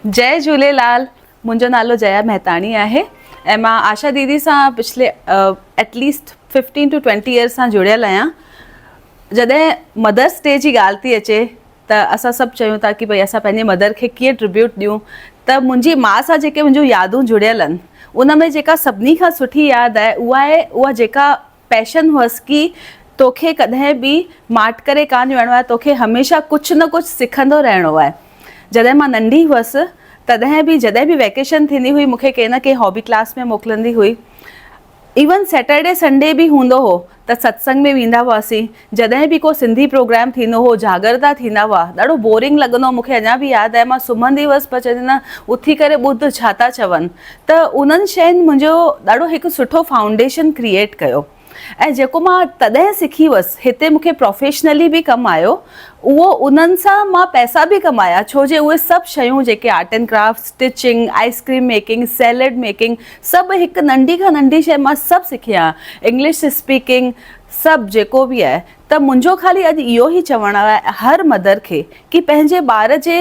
جئي جهوليلال منهنجو نالو جيا مهتاڻي آهي ۽ مان آشا ديدي سان پڇلي at least fifteen to twenty years سان جڙيل آهيان جڏهن مدرس ڊي جي ڳالهه ٿي اچي ته اسان سڀ چيون ٿا ڪي ڀئي اسان پنهنجي مدر کي ڪيئن ٽربيوٽ ڏيون ته منهنجي ماء سان جيڪي منهنجون يادون جڙيل آهن ان ۾ جيڪا سڀني کان سٺي ياد آهي اها آهي اها جيڪا پئشن هئس ڪي توکي ڪڏهن به ماٺ ڪري ڪانه ويهڻو آهي، توکي هميشه ڪجهه نه ڪجهه سکندو رهڻو آهي. جڏهن مان ننڍي هئس تڏهن به جڏهن به ويڪيشن ٿيندي هئي مونکي ڪنهن نه ڪنهن هابي ڪلاس ۾ موڪلندي هئي. ايون سيٽرڊي سنڊي به هوندو هو ته ستسنگ ۾ ويندا هئاسين، جڏهن به ڪو سنڌي پروگرام ٿيندو هو جاڳرتا ٿيندا هئا ڏاڍو بورنگ لڳندو هو مون کي اڃا به ياد آهي مان سمهندي هئس پر چوندي نه اٿي ڪري ٻڌ ڇا ٿا چون ته انهن شين منهنجو ڏاڍو هڪ سٺو فائونڊيشن ڪريئيٽ ڪيو ۽ جيڪو مان تڏهن سکي هئس هتي مون کي پروفيشنلي به ڪم آيو اهو انهن سان مان پئسا به ڪمايا ڇو جي اهي سڀ شيون جيڪي art and craft stitching ice cream making salad making سڀ هڪ ننڍي کان ننڍي شي مان سڀ سکي آهيان انگلش اسپيڪنگ سڀ جيڪو به آهي ته منهنجو خالي اڄ اهو ئي چوڻ آهي هر مدر کي ڪي پنهنجي ٻار جي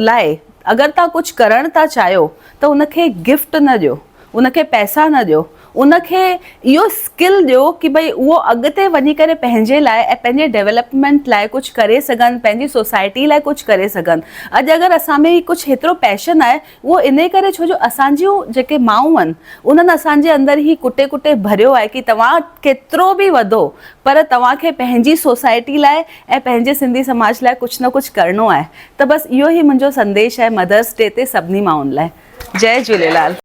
لاء اگر توهان ڪجهه ڪرڻ ٿا چاهيو ته ان کي گفٽ نه ڏيو ان کي پئسا نه ڏيو ان کي اهو اسڪل ڏيو ڪي ڀئي اهو اڳتي وڃي ڪري پنهنجي لاء ۽ پنهنجي ڊيولپمينٽ لاء ڪجهه ڪري سگهن پنهنجي سوسائٽي لاء ڪجهه ڪري سگهن اڄ اگر اسان ۾ ڪجهه هيترو پيشن آهي اهو انهي ڪري ڇو جو اسان جون جيڪي مائون آهن انهن اسان جي اندر هي ڪٽي ڪٽي ڀريو آهي ڪي توهان ڪيترو به وڌو پر توهان کي پنهنجي سوسائٽي لاء ۽ پنهنجي سنڌي سماج لاء ڪجهه نه ڪجهه ڪرڻو آهي ته بس اهو هي منهنجو سنديش آهي مدرس ڊي تي سڀني مائن لاء جئي جهوليلال.